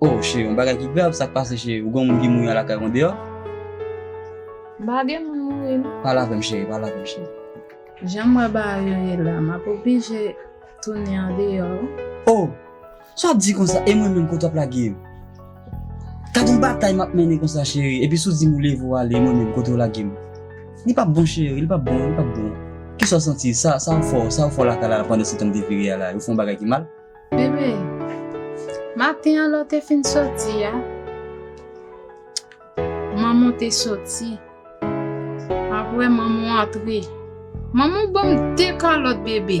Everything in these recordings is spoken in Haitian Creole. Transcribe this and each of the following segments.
Oh cheri, yon bagay ki grav, sak pase cheri, ou gen yon moun ki mouri an lakay ou an deyò? M pa gen moun mouri non. Pale avè m cheri, pale avè m cheri. Jan m wè bagay yo ye la, m ap oblije tounen an deyò wi. Oh! Sa w ap di konsa, e mwen menm kote w ap lage m? Gad yon batay m ap mennen konsa cheri, epi si w di m ou leve w ale, e mwen menm kote w lage m? Li pa p bon cheri, li pa p bon, li pa p bon. Kisa w santi, sa w fè w, sa w fè w lakay la pandansetan m te vire ale a, yo fè yon bagay ki mal? Bebe, maten an lè w te fin soti a, manman w te soti. Apre manman w antre. Manman w ban m de kalòt bebe.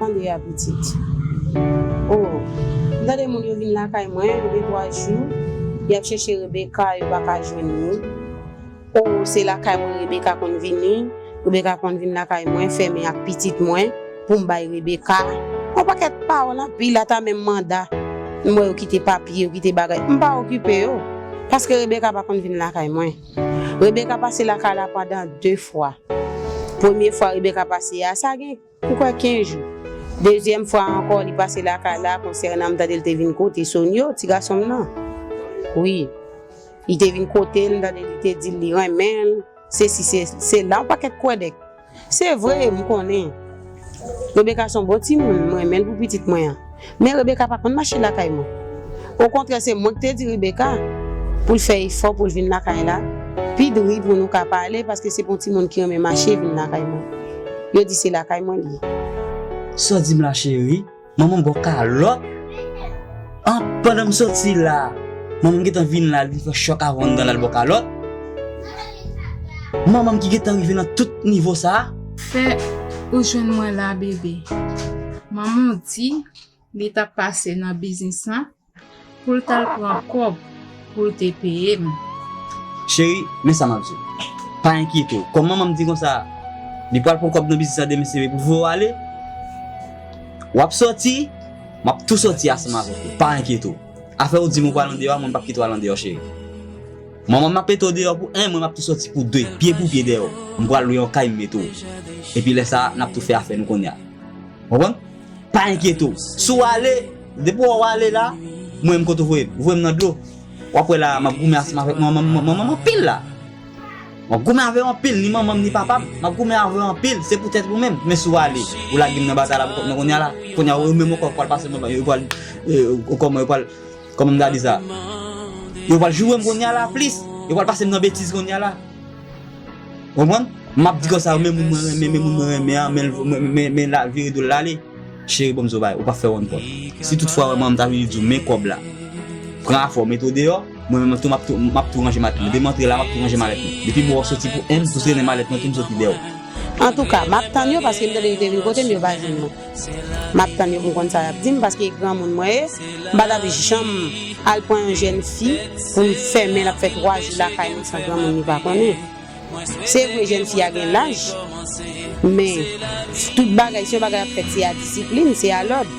Tande a pitit. O, m tande moun yo vin lakay mwen, yo gen twa jou, y ap chèche Rebeka, yo pa ka jwenn li. O, se lakay mwen Rebeka konn vini, Rebeka konn vin lakay mwen, fèmen ak pitit mwen, pou m bay Rebeka. Yon pakèt pawòl anpil, ata menm manda. M wè yo kite papye, yo kite bagay. M pa okipe yo, paske Rebeka pa konn vin lakay mwen. Rebecca pase lakay la pandan 2 fwa. Premye fwa Rebecca pase a, sa gen m kwè 15 jou. Dezyèm fwa a ankò li pase lakay la konsènan m tande l te vin kote Sonio, ti gason m nan. Wi. Li te vin kote l, m tande li te di l li renmen l, sesi se sela, yon pakèt kwèdèk. Se vre, m konnen. Rebeka s on bon timoun, m renmen l pou pitit mwen an. Men Rebeka pa konn mache lakay mwen. Okontrè se mwen k te di Rebeka pou l fè efò pou l vin lakay la pi dri pou nou ka pale paske se pou yon timoun ki renmen mache vin lakay mwen. Yo di se lakay mwen l ye. Sa w di m la cheri? Manman bo kalòt an pandan m soti la manman gentan vin la li fè chòk avanl nan lal bo kalòt manman ki gentan rive nan tout nivo sa. Fè ou jwenn mwen la bebe. Manman di li tap pase nan biznis lan Pou l t al pran kòb pou l te peye m. Cheri, men sa m ap di w. Pa enkyete w. Kòm manman m di konsa, li pral pran kòb nan biznis la demen se vre pou fè w ale. W ap soti, m ap tou soti ansanm avèk ou. Pa enkyete w. Afè ou di m ou pral andeyò a, mwen m p ap kite w al andeyò cheri. Manman m ap mete w deyò pou 1, mwen m ap tou soti pou 2, pye pou pye dèyè w. M pral lwe yon kay m mete w. Epi lè sa a, n ap tou fè afè nou kounye a. Konprann? Pa enkyete w. Si w ale, depi wè w ale la, mwen menm kote w voye m. Voye m nan dlo. W ap wè la a, m ap goumen ansanm avèk manman m, manman m anpil la. M ap goumen avè w anpil, ni manman m ni papa m. M ap goumen avè w anpil, se poutèt ou menm. Men si w ale, ou lage m nan batay la pou kont mwen kounye a la. Kounye a yo menm ankò yo pral pase m anba, yo pral, kòman yo pral, kòman m ta di sa? Yo pral joure m kounye a la plis. Yo pral pase m nan betiz kounye a la. Konprann? M ap di konsa men moun mwen renmen, men moun mwen renmen an, men mwen men la vire do l ale. Cheri banm zo bay, ou pa fè wonn kont. Si tout fwa ou renmen an m ta vini di w men kòb la. Pran afè w mete w deyò, mwen menm tou m ap tou ranje matenn. Demen antre la m ap tou ranje malèt mwen. Depi bo w soti pou 1 m tou trennen malèt mwen tou m soti dèyè w. Antouka, m ap tann yo paske m tande yo te vin kote m yo pa jwenn mwen. Map tann yo pou m konn sa yap dim paske e granmoun mwen ye m pa tap janm al pran yon jèn fi pou m fèmen lap fè 3 jou lakay mwen san granmoun li pa konnen se vre jèn fi a gen laj men tout bagay si yon bagay ap fèt se a disiplin se a lòd.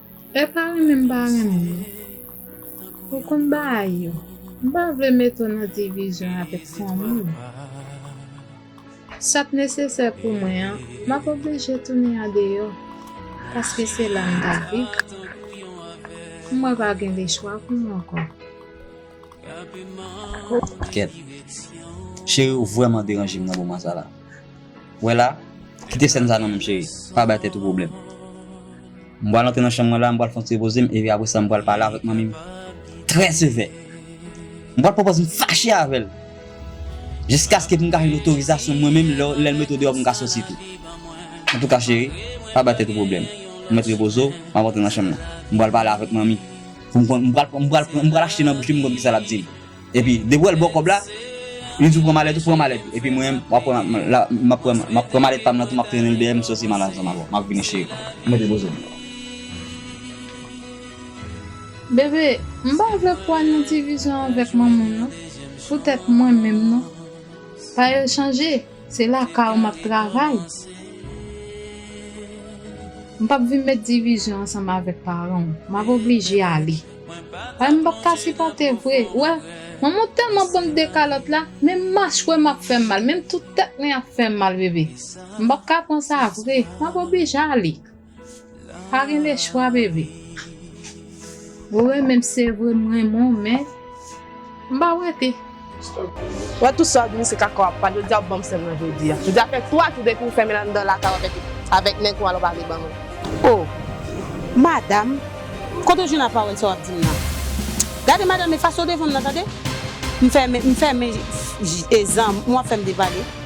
E pa renmen m pa renmen yo. Ou konn bagay yo. M pa vle mete w nan divizyon avèk fanmi w. Sa k nesesè pou mwen an, m ap oblije tounen andeyò, paske se la m t ap viv. Mwen pa gen de chwa pou m ankò. Kèt. Cheri ou vrèman deranje m nan moman sa la. Wè la, kite sèn sa non menm cheri, pa bay tèt ou pwoblèm. M pral antre nan chanm mwen la, m pral fè yon ti repoze m epi apresa m pral pale avèk manmi m trè sevè. M pral pwopòz m fache avè l jiskaske pou m ka jwenn otorizasyon mwen menm lè l mete w deyò pou m ka soti tou. Antouka cheri, pa bay tèt ou pwoblèm. Ou mèt repoze w, m ap antre nan chanm nan. M pral pale avèk manmi. M pral achte nan bouch li pou m konn kisa l ap di m. Epi depi wèl baw kòb la Li di w pran malèt ou pran malèt ou epi mwen wap wè map pran malèt pam nan tou map trenen l dèyè m soti mal ansanm avèw map vini cheri m mete bozo m. Bebe m pa vle pou al nan divizyon avèk manman m non pou tèt mwen menm non pa yo chanje se lakay ou map travay m pap vin met divizyon ansanm avèk paran w map oblije ale. Ay m pap ka sipòte vre wè manmanw tèlman banm de kalòt la menm machwèm ap fèm mal menm tout tèt mwen ap fèm mal bebe m pap ka pran sa vre map oblije ale pa gen le chwa bebe. Ou renmenm se vre m renmen w men. M pa prete. Wè tout sa vini se kaka wap pale yo di a banm sèm nan jodi a jodi a fè 3 jou depiw fèmen anndan lakay ou avèk avèk nèg ou alò pa vle banm l oh madam kote ou jwenn a pawòl sa wap dim nan gade madam efase w devanm nan tande m fèmen m fèmen je zanm ou ap fèm depale.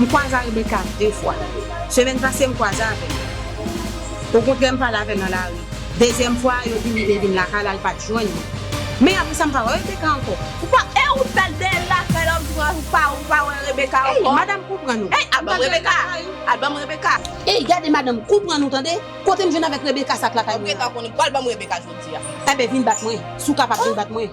M kwaze a Rebecca 2 fwa. Semèn pase m kwaze avè l. Okontrè m pale avè l nan lari. Dezyèm fwa a yo di li vle vin lakay la l pat jwenn li. Men apre sa m pa wè Rebecca ankò. Ou pa e ou pèl dèyèl lakay la ou di mwen ou pa ou pa wè Rebecca ankò. Ey madanm konprann ou. Ey al banm Rebecca al banm Rebecca. Ey gade madanm konprann ou tande. Kotem jwenn avèk Rebecca sa k lakay mwen an. Rebecca konnen pwal banm Rebecca jodia. Enben vin bat mwen si w kapab vin bat mwen.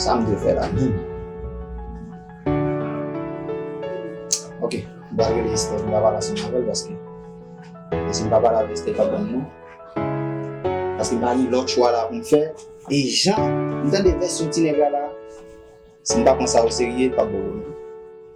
Sa m dwe fè la menm? Ok, m pral rele Esther pou m ta pale ansanm avè l paske si m pa pale avè Esther l pap ban m non. Paske m pa gen lòt chwa la pou m fè e jan m tande vèsyon ti nèg la la si m pa pran sa oserye l pap ban m non.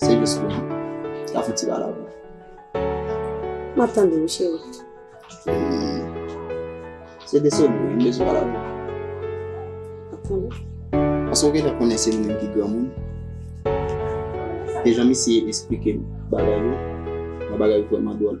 Se jis pou nou ta fè ti balabla. M ap tande w cheri. Se de sèl mwen m bezwen pale avè w. M ap tande w. Paske ou genlè konnen se nou menm ki granmoun. E jan misye esplike m bagay yo, bagay yo vrèman dwòl.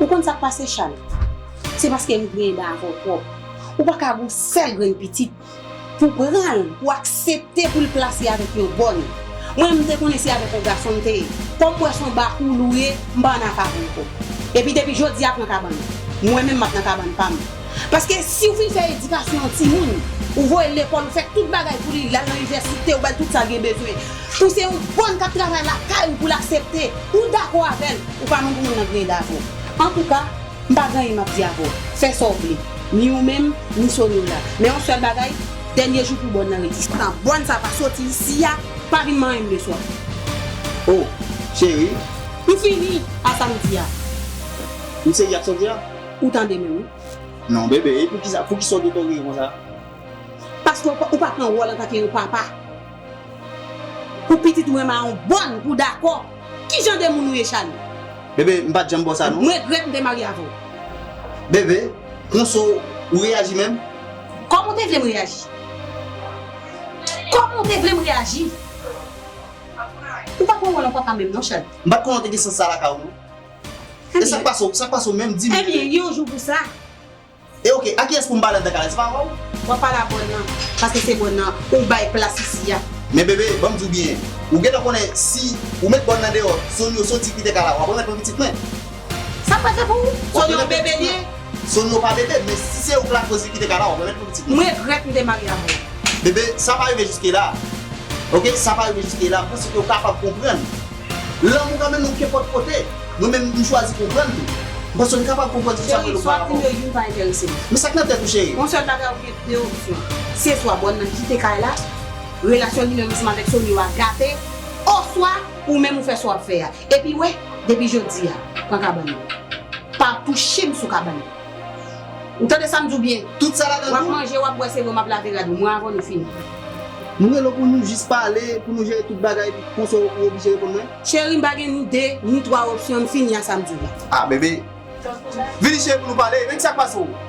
Ou konn sa k pase Chal? Se paske m griyen dan avè w twòp. Ou pa ka gen yon sèl grenn pitit pou w pran l, pou w aksepte pou l plase avèk yon bòn. Mwen menm m te konnen se avèk yon gason m te ye. Kòm m wè se yon bakoul ou ye, m pa ann ak avè w ankò. Epi depi jodi a pran kabann ou. Mwen menm m ap nan kabann pa m. Paske si w fin fè edikasyon yon timoun, ou voye l lekòl, ou fè tout bagay pou li, l al nan inivèsite, ou ba l tout sa l gen bezwen. Pou se yon bòn k ap travay lakay ou pou l aksepte, ou dakò avè l. Ou pa moun pou moun nan griyen davo. Antouka, m pa griyen m ap di avè w, fè sa w vle, ni ou menm, ni Sony w la. Men yon sèl bagay, dènye jou pou bòn nan rete. Tan bòn sa pa soti isi a, pa vin manyen m de swa. Oh, cheri. M fini a sa m di a. M sezi ak sa w di a. Ou tande menm wi. Non bebe, e poukisa, poukisa w detonne m konsa? Paske ou pa pran wòl antanke yon papa. Pou pitit mwen mawon bòn ou dakò Ki jan de moun ou ye Charly? Bebe, m pat janm ba w sa non. M regrèt m te marye avè w. Bebe, konsa ou reyaji menm? Kòman ou te vle m reyaji? Kòman ou te vle m reyaji? Ou pa pran wòl an papa menm non Charly. M pat konnen w te gen sans sa lakay ou non. E sak pase w, sak pase w menm di m? Ebyen yon jou pou sa. E ok, a kiyès pou m pale anndan kalè, se pa avè w? W ap pale a bòn nan, paske se bòn nan ou bay plas isi a. Men bebe, ban m di w byen, ou gentan konnen si ou met bòn nan deyò, Sonio soti kite kay la, w ap remèt mwen pitit mwen. Sa m pral fè pou ou? Sonio yon bebe li ye? Sonio pa bebe, men si se ou k lakoz li kite kay la, w ap remèt mwen pitit mwen. M regrèt m te marye avè w. Bebe, sa pa rive jiske la. Ok, sa pa rive jiske la, m panse ke ou kapab konprann. Lanmou ka mennen w kenpòt kote. Mwen menm m chwazi konprann li. M panse w kapab konprann tout sa m wè nou parapò. Cheri, swa dim yo youn pa enterese m. Men sa k nan tèt ou cheri? Yon sèl bagay ou gen 2 opsyon. Se swa bòn nan kite kay la, relasyon li menm ansanm avèk Sonio a gate, oswa ou menm ou fè sa w ap fè a. Epi wè, depi jodi a, pran kabann nan. Pa touche m sou kabann nan. Ou tande sa m di w byen? Tout sa ladan Wap tou. manje, wap bwè se vre w map lave rad ou mwen avan nou fini. M rele w pou nou jis pale, pou nou jere tout bagay epi konsa ou oblije reponn mwen? Cheri m pa gen ni 2, ni 3 opsyon m fini a sa m di w la. Ah bebe. Vini cheri pou nou pale, men kisa k pase w?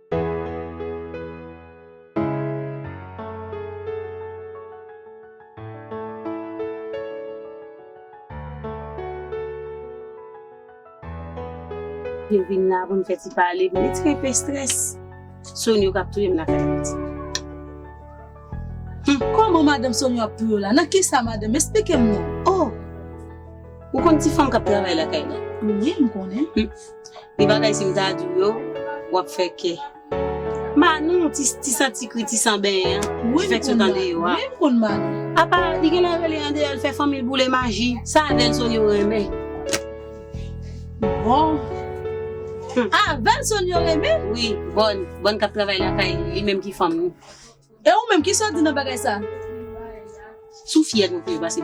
Te vin la pou n fè ti pale. M mèt kenpe strès. Sonyo k ap touye m lakay la ti. Hum! Kòman madanm Sonyo ap touye w la? Nan ki sa madanm? Esplike m non! Oh! Ou konn ti fanm k ap travay lakay la? Wi, m konnen. Li bagay sim ta di w yo wap fè kè. Manou ti santi kri ti san benyen an ki fè tout ande yo a. Apa li genlè rele andeyò li fè fanmi l boule maji. Sa vèlsonn yo renmen. Bon. Ah vèlson yo renmen. Wi bòn, bòn kap travay lakay li, li menm ki fanm li. E ou menm kisa w di nan bagay sa. Sou fyèl mwen plis pase.